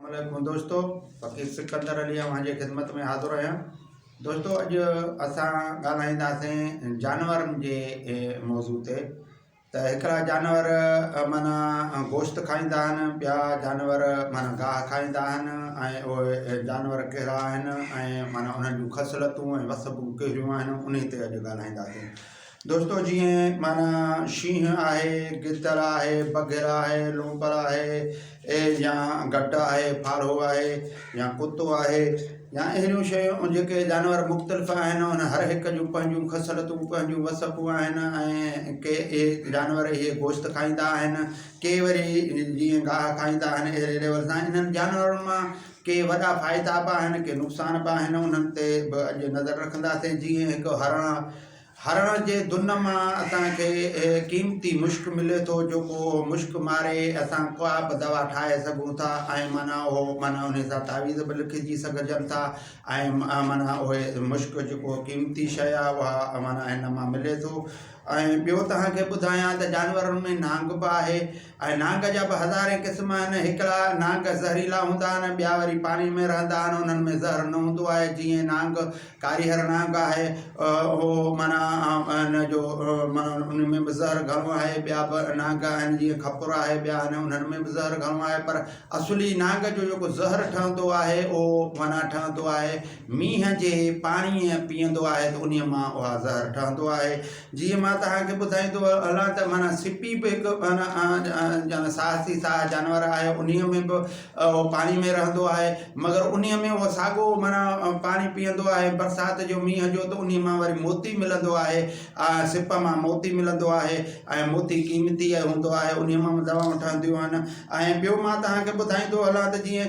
السلام عليڪم دوستو فقير سڪندر علي اوهان جي خدمت ۾ حاضر آهيان دوستو اڄ اسان ڳالهائينداسين جانورن جي موضوع تي ته هڪڙا جانور مانا گوشت کائيندا آهن ٻيا جانور مانا گاهه کائيندا آهن ۽ اهي جانور ڪهڙا آهن ۽ مانا انهن جون خصلتون ۽ وسبون ڪهڙيون آهن انهي تي اڄ ڳالهائينداسين دوستو جيئن معنيٰ شينهن آهي، گدڙ آهي، بگهڙ آهي، لونپر آهي اي يا گهٽ آهي، ڦاڙهو آهي يا ڪتو آهي يا اهڙيون شيون جيڪي جانور مختلف آهن ان هر هڪ جون پنهنجون خصلتون پنهنجون وصفون آهن ۽ ڪي اهي جانور اهي گوشت کائيندا آهن ڪي وري جيئن گاهه کائيندا آهن اهڙي ليول سان انهن جانورن مان ڪي وڏا فائدا به آهن ڪي نقصان به آهن انهن تي به اڄ نظر رکنداسين جيئن هڪ هرڻ هرڻ جي دن مان اسان کي اهي قيمتي مشڪ ملي ٿو جيڪو اهو مشڪ ماري اسان ڪا به دوا ٺاهي سگهون ٿا ۽ معنيٰ اهو معنيٰ انهي سان تعويذ به لکجي سگهجن ٿا ۽ معنيٰ اهي مشڪ جيڪو قيمتي شيء آهي اها معنيٰ هن مان ملي ٿو ۽ ٻيو توهان کي ٻڌايان ته جانورن ۾ نانگ به آهي اهي نانگ جا به هزارين قسم آهن. هڪڙا نانگ زهريلا هوندا آهن، ٻيا وري پاڻي ۾ رهندا آهن، انهن ۾ زهر نه هوندو آهي، جيئن نانگ ڪاريهر نانگ آهي، اهو معنيٰ ان جو معنيٰ ان ۾ به زهر گهڻو آهي، ٻيا به نانگ آهن جيئن کپر آهي، ٻيا آهن انهن ۾ به زهر گهڻو آهي، پر اصلي نانگ جو جيڪو زهر ٺهندو آهي، اهو معنيٰ ٺهندو آهي مينهن جي پاڻيء پيئندو آهي ته انهيء مان اها زهر ٺهندو آهي، جيئن مان توهان کي ٻڌائيندو هلان ته معنيٰ سپي به هڪ معنيٰ ساهسي ساهه جانور آهي انهي ۾ به اهو پاڻي ۾ رهندو آهي مگر انهي ۾ اهو ساڳو معنيٰ پاڻي پيئندو آهي برسات جو مينهن جو ته انهي مان وري موتي ملندو آهي سپ مان موتي ملندو آهي ۽ موتي قيمتي هوندو آهي انهي مان به دوائون ٺهنديون آهن ۽ ٻيو مان توهان کي ٻڌائيندو هلان ته جيئن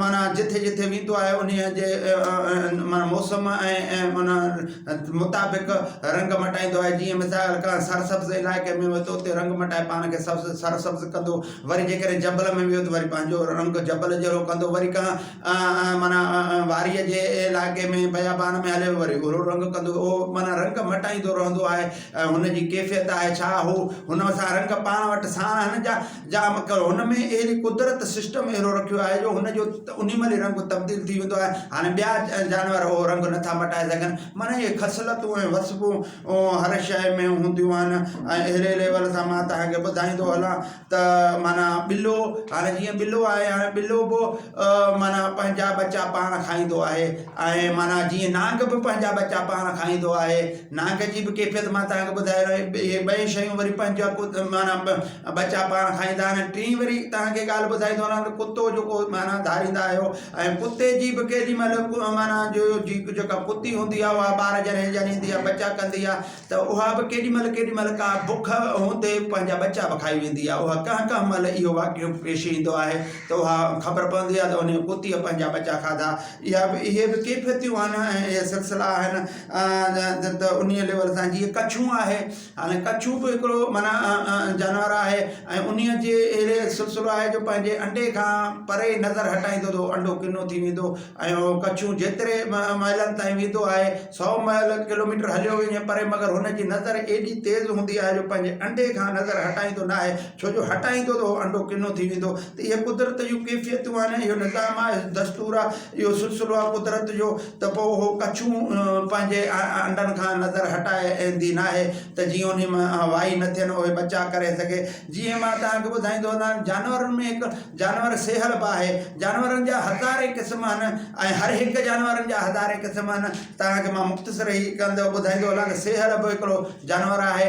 معنيٰ جٿي جٿي ويندو آهي انهيء جي معنيٰ موسم ۽ معنيٰ مطابق رنگ مٽائيندو آهي جيئن مثال ڪنهن سرسبز علائقي ۾ ويو ته اتي رنگ مٽائي پاڻ کي سبز سرسبز ڪندو وري جيڪڏهن جبل ۾ ويو ته وري پنهنجو رنگ جبل جهڙو ڪندو وري ڪنهن معنيٰ واريء جي علائقي ۾ بيابان ۾ هليو وري اهڙو رنگ ڪندو اهو معنيٰ رنگ مٽائيندو رهندو آهي ۽ هن جي ڪيفيت آهي ڇا هو هن سان رنگ پاڻ وٽ ساڻ هن جا جا مگر هن ۾ اهڙي قدرت سسٽم اهڙو رکيو آهي جو هن جو انهي مهل ئي رنگ تبديل ٿي ويندو آهي هاڻي ٻيا جانور اهو رنگ نٿا مٽائي سگهن معنيٰ اهي خصلتون ۽ وصفون هر شيء ۾ هونديون آهن ۽ اهڙي ليول سان مان توهان کي ٻڌائيندو هلان ته معنيٰ ٻلو هاڻي جيئن ٻلو آهي هاڻي ٻلو به معنيٰ پنهنجا ٻچا پاڻ کائيندو آهي ۽ معنيٰ جيئن نانگ به پنهنجا ٻچا پاڻ کائيندو آهي نانگ جي به ڪيفيت مان توهان کي ٻڌائي رهي اهي ٻئي شيون وري پنهنجا معنيٰ ۽ ٻچا پاڻ کائيندا آهن ۽ ٽين وري توهان کي ڳالهه ٻڌائي ٿو وڃان ته ڪتو جيڪو معنيٰ ڌاريندا آهيو ۽ ڪتي جي به ڪيڏي مهل معنيٰ جو جي جيڪا ڪتي هوندي آهي اها ٻار جڏهن ڄڻيندي آهي ٻچا ڪندي آهي ته اها به ڪيڏي مهل ڪيڏي مهل ڪا بک هوندي پنهنجا ٻچا به کائي ويندي آهي اها ڪنهن ڪنهن مهل اهو واقعو پيش ايندو آهي ته اها خبر پوندي آهي ته ان ڪتي پنهنجا ٻچا کاڌا اها به اهي به ڪيفيتيون آهن ۽ اهي سلسلا آهن ته انهيء ليول سان جيئن ڪڇون آهي هاڻي ڪڇون به هڪڙو معنيٰ جانور آهي ۽ انهيء جي اهڙي سلسلو آهي جو پنهنجي انڊي کان پري نظر هٽائيندو ته انڊو ڪنو ٿي ويندو ۽ اهو ڪڇون جيتري مائلن تائين ويندو آهي سئو مائل ڪلوميٽر هليو وڃي پري مگر هن جي نظر ايڏي تيز هوندي آهي جو پنهنجي انڊي کان نظر هٽائيندو ناهي ڇو جو هٽائيندو ته اهو انڊو ڪنو ٿي ويندو ته اهي قدرت جون ڪيفيتون آهن اهو نظام آهي دستور آهي اهو سلسلو آهي قدرت جو ته پوء اهو ڪڇون پنهنجي انڊن کان نظر هٽائي ايندي ناهي ته جيئن انهي مان وائي نه ٿين اهي ٻچا ڪري سگهي جيئن مان توهان کي ٻڌائيندو وڃان جانورن ۾ هڪ جانور سيهل به آهي جانورن جا هزارين قسم آهن ۽ هر هڪ جانورن جا هزارين قسم آهن توهان کي مان مختصر هي ڪندو ٻڌائيندو هلان ته سيهل به هڪڙو جانور آهي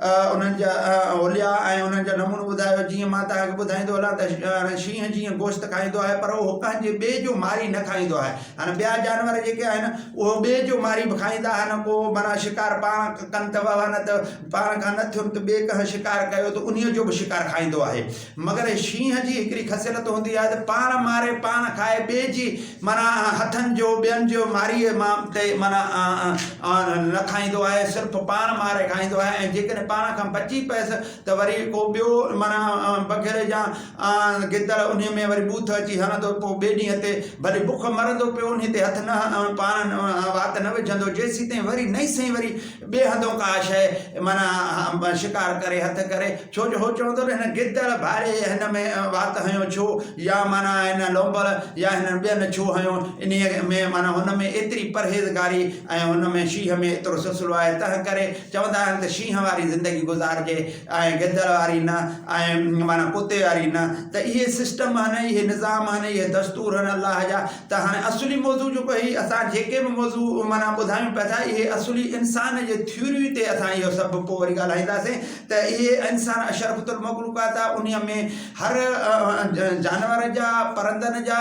انهن جا حليا ۽ انهن جا نمونو ٻڌايو، جيئن مان توهان کي ٻڌائيندو هلان ته شينهن جيئن گوشت کائيندو آهي پر اهو ڪنهن جي ٻئي جو ماري نه کائيندو آهي ۽ ٻيا جانور جيڪي آهن اهو ٻئي جو ماري به کائيندا آهن ڪو معنيٰ شڪار پاڻ ڪن ته وهنت پاڻ کان نه ٿيون ته ٻئي ڪنهن شڪار ڪيو ته انهيء جو به شڪار کائيندو آهي مگر شينهن جي هڪڙي خصيلت هوندي آهي ته پاڻ ماري پاڻ کائي ٻئي جي معنيٰ هٿن جو ٻين جو ماريء مان تي معنيٰ نه کائيندو آهي صرف پاڻ ماري کائيندو آهي ۽ جيڪڏهن پاڻ کان بچي پيس ته وري ڪو ٻيو معنيٰ بگهڙ يا گدڙ انهي ۾ وري ٻوٿ اچي هڻندو پوء ٻئي ڏينهن تي ڀلي بک مرندو پيو انهي تي هٿ نه پاڻ وات نه وجهندو جيسيتائين وري نئين سئين وري ٻئي هنڌئون ڪا شيء معنيٰ شڪار ڪري هٿ ڪري ڇو جو هو چوندو نه هن گدڙ ڀائري هن ۾ وات هنيو ڇو يا معنيٰ هن لونبڙ يا هنن ٻين ڇو هنيو انهيء ۾ معنيٰ هن ۾ ايتري پرهيزگاري ۽ هن ۾ شينهن ۾ ايترو سلسلو آهي تنهن ڪري چوندا آهن ته شينهن واري زندگي گذارجي ۽ گدڙ واري نه ۽ معنيٰ ڪتي واري نه ته اهي سسٽم آهن اهي نظام آهن اهي دستور آهن الله جا ته هاڻي اصلي موضوع جيڪو هي اسان جيڪي به موضوع معنيٰ ٻڌايون پيا ٿا اهي اصلي انسان جي ٿيوري تي اسان اهو سڀ پوء وري ڳالهائينداسين ته اهي انسان اشرفت المخلوقات آ، انهيء ۾ هر جانور جا، پرندن جا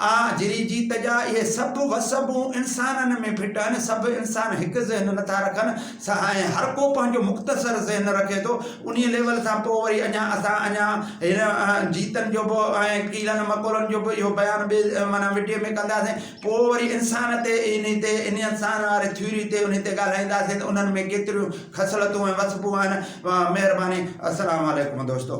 ۽ جري جيت جا، اهي سڀ وسبون انسانن ۾ فٽ آهن، سڀ انسان هڪ ذهن نٿا رکن، سهائين هر ڪو پنهنجو مختصر ذهن رکي ٿو، انهيء ليول سان پوء وري اڃا اسان اڃا هن جيتن جو به ۽ ڪيڙن مڪوڙن جو به اهو بيان ٻئي معنيٰ وڊيو ۾ ڪنداسين. پوء وري انسان تي انهي تي انهي انسان واري ٿيوري تي انهي تي ڳالهائينداسين ته انهن ۾ ڪيتريون خصلتون ۽ وصفون آهن مهرباني السلام عليڪم دوستو.